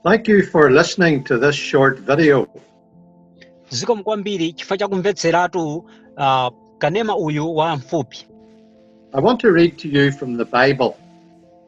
Thank you for listening to this short video. zikomo kwambiri chifukwa cha kumvetseratu uh, kanema uyu wa mfupi I want to read to you from the Bible.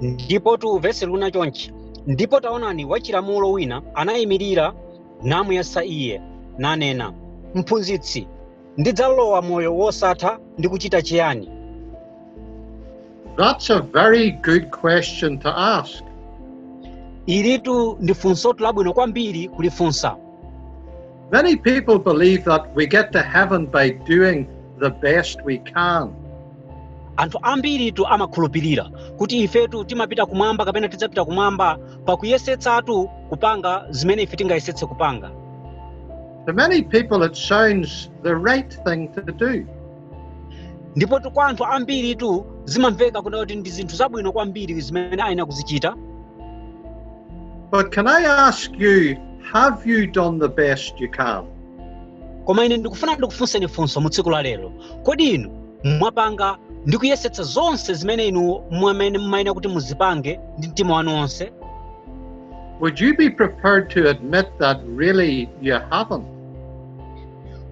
ndipo tu vesi likunena chonchi ndipo taonani wachilamulo wina anayimirira namuyesa iye nanena mphunzitsi ndidzalowa moyo wosatha ndi kuchita chiyani That's a very good question to ask. ilitu ndi funsotu labwino kwambiri kulifunsa Many people believe that we get to heaven by doing the best we can. anthu ambiritu amakhulupirira kuti ifetu timapita kumwamba kapena tidzapita kumwamba pakuyesetsatu kupanga zimene ife tingayesetse kupanga To many people, it sounds the right thing to do. ndipotu kwa anthu ambiritu zimamveka kunena kuti ndi zinthu zabwino kwambiri zimene ayenera kuzichita But can I ask you, have you done the best you can? koma ine ndikufuna ndikufunseni funso mu tsiku la lero kodi inu mwapanga ndi kuyesetsa zonse zimene inu mmene mumayenera kuti muzipange ndi mtima wanu wonse Would you be prepared to admit that really you haven't?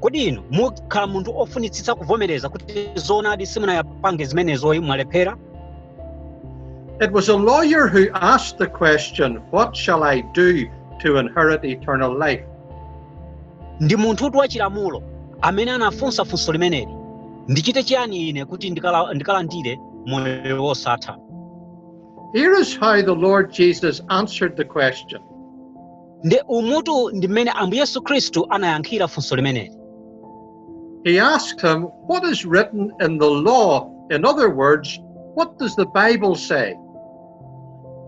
kodi inu mukhala munthu ofunitsitsa kuvomereza kuti zoonadi simunazipange zimenezoyi mwalephera It was a lawyer who asked the question, What shall I do to inherit eternal life? ndi munthutu wachilamulo amene anafunsa funso limeneli ndichite chiyani ine kuti ndikala- ndikalandire moyo wosatha Here is how the Lord Jesus answered the question. nde umutu ndi mmene ambuye yesu khristu anayankhira funso limeneli He asked him, What is written in the law? In other words, what does the Bible say?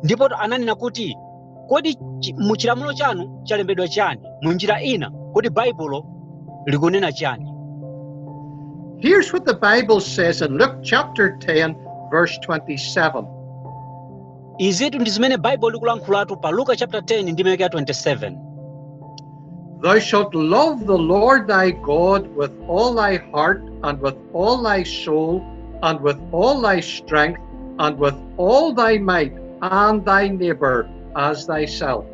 ndipotu ananena kuti kodi chi- mu chilamulo chanu chalembedwa chiyani mu njira ina kodi baibulo likunena chiyani Here's what the Bible says in Luke chapter 10, verse 27. izitu ndi zimene baibulo likulankhulatu pa luka chapter 10 ndime yake ya 27 Thou shalt love the Lord thy God with all thy heart and with all thy soul and with all thy strength and with all thy might and thy neighbor as thyself.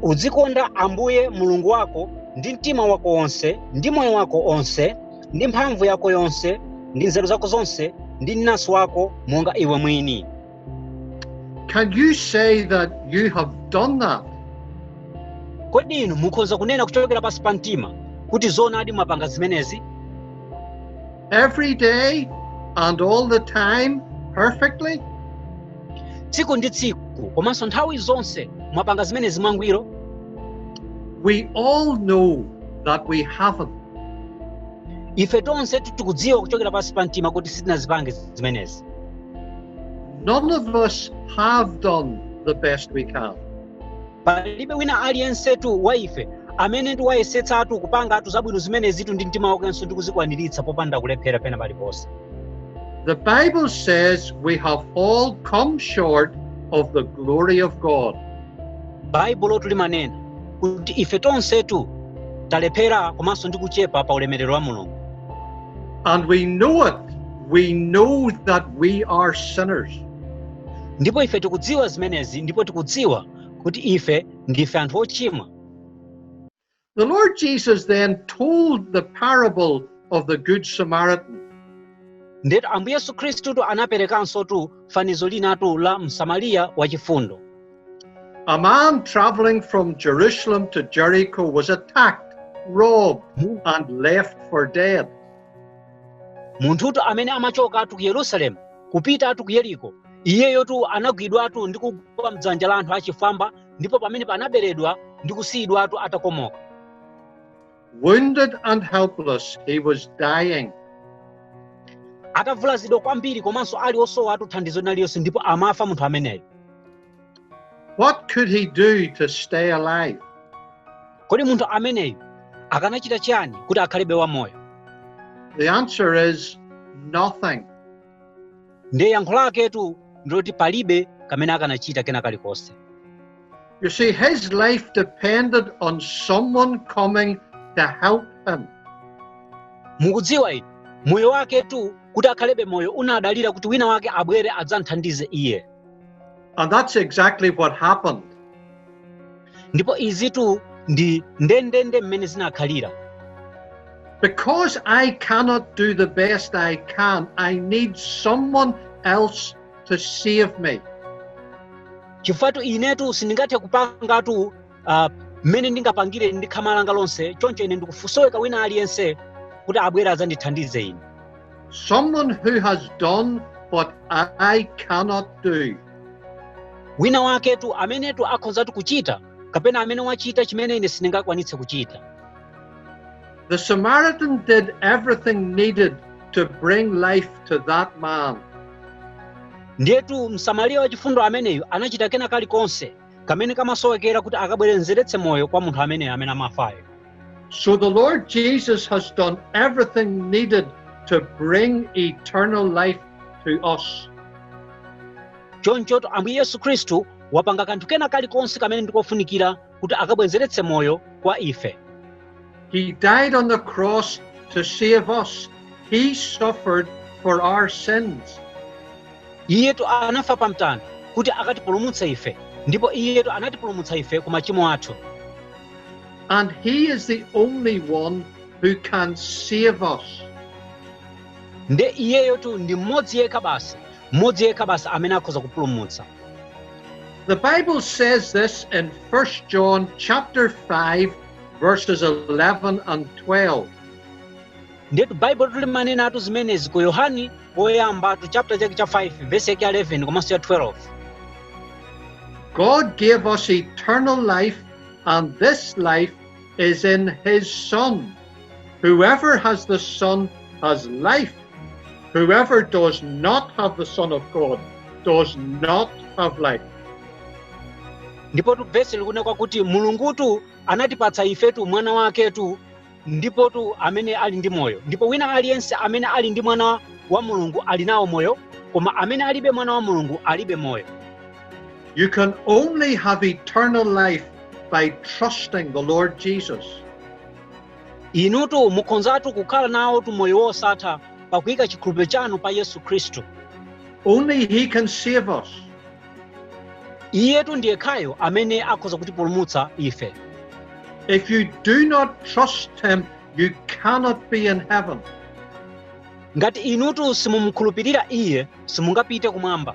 udzikonda ambuye mulungu wako ndi mtima wako wonse ndi moyo wako onse ndi mphamvu yako yonse ndi nzeru zako zonse ndi mnansi wako monga iwe mwini Can you say that you have done that? kodi inu mukhoza kunena kuchokera pansi pa mtima kuti zoonadi mwapanga zimenezi Every day and all the time, perfectly? tsiku ndi tsiku komanso nthawi zonse mwapanga zimenezi mwangwiro We all know that we haven't. ife tonse tikudziwa kuchokera pansi pa mtima kuti sitinazipange zimenezi None of us have done the best we can. palibe wina aliyensetu wa ife amene ndi wayesetsatu kupangatu zabwino zimenezitu ndi mtima wakenso ndi kuzikwaniritsa popanda kulephera pena paliponse The Bible says we have all come short of the glory of God. baibulotu limanena kuti ife tonsetu talephera komanso ndi kuchepa pa ulemerero wa mulungu And we know it. We know that we are sinners. ndipo ife tikudziwa zimenezi ndipo tikudziwa kuti ife ndife anthu ochimwa The Lord Jesus then told the parable of the Good Samaritan. ndetu ambuye yesu khristutu anaperekansotu fanizo linatu la msamariya wachifundo A man traveling from Jerusalem to Jericho was attacked, robbed, and left for dead. munthutu amene amachokatu ku yerusalemu kupitatu ku yeriko iyeyotu anagwidwatu ndi kugwa mdzanja la anthu achifwamba ndipo pamene anaberedwa ndi kusiyidwatu atakomoka Wounded and helpless, he was dying. atavulazidwa kwambiri komanso ali osowatu thandizo lina lililonse ndipo amafa munthu ameneyo What could he do to stay alive? kodi munthu ameneyu akanachita chiyani kuti akhalebe wamoyo The answer is nothing. ndiye yankho laketu ndiloti palibe kamene akanachita kena kalikonse You see, his life depended on someone coming to help him. mukudziwa inu moyo waketu kuti akhalebe moyo unadalira kuti wina wake abwere adzamthandize iye And that's exactly what happened. ndipo izitu ndi ndendende mmene zinakhalira Because I cannot do the best I can, I need someone else to save me. chifukwa inetu sindingathe kupangatu ah, mmene ndingapangire ndi khama langa lonse choncho ine ndikusoweka wina aliyense kuti abwere adzandithandize ine Someone who has done what I cannot do. wina waketu amenetu akhonzatu kuchita kapena amene wachita chimene ine sindingakwanitse kuchita The Samaritan did everything needed to bring life to that man. ndiyetu msamariya wachifundo ameneyu anachita kena kalikonse kamene kamasowekera kuti akabwezeretse moyo kwa munthu ameneyo amene amafayo So the Lord Jesus has done everything needed to bring eternal life to us. chonchoto ambuye yesu khristu wapanga kanthu kena kalikonse kamene ndikofunikira kuti akabwezeretse moyo kwa ife He died on the cross to save us. He suffered for our sins. iyetu anafa pa mtanda kuti akatipulumutse ife ndipo iyetu anatipulumutsa ife ku machimo athu And he is the only one who can save us. nde iyeyotu ndi mmodzi yekha basi mmodzi yekha basi amene akhoza kupulumutsa The Bible says this in 1 John chapter 5 verses 11 and 12. ndetu baibulotu limanenatu zimenezi ku yohani woyambatu chapter chake cha 5 vesi yake ya 11 komanso ya 12 God gave us eternal life, and this life is in his Son. Whoever has the Son has life. Whoever does not have the Son of God does not have life. ndipotu vesi likunena kuti mulungutu anatipatsa ifetu mwana waketu ndipotu amene ali ndi moyo ndipo wina aliyense amene ali ndi mwana wa mulungu ali nawo moyo koma amene alibe mwana wa mulungu alibe moyo You can only have eternal life by trusting the Lord Jesus. inutu mukhonzatu kukhala nawotu moyo wosatha pakuika chikhulupiriro chanu pa yesu khristu Only He can save us. iyetu ndiyekhayo amene akhoza kutipulumutsa ife If you do not trust Him, you cannot be in heaven. ngati inutu simumukhulupirira iye simungapite kumwamba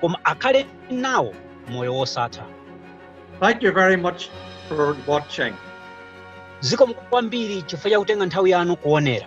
koma akhale nawo moyo wosatha Thank you very much for watching. zikomo kwambiri chifukwa chakutenga nthawi yanu kuonera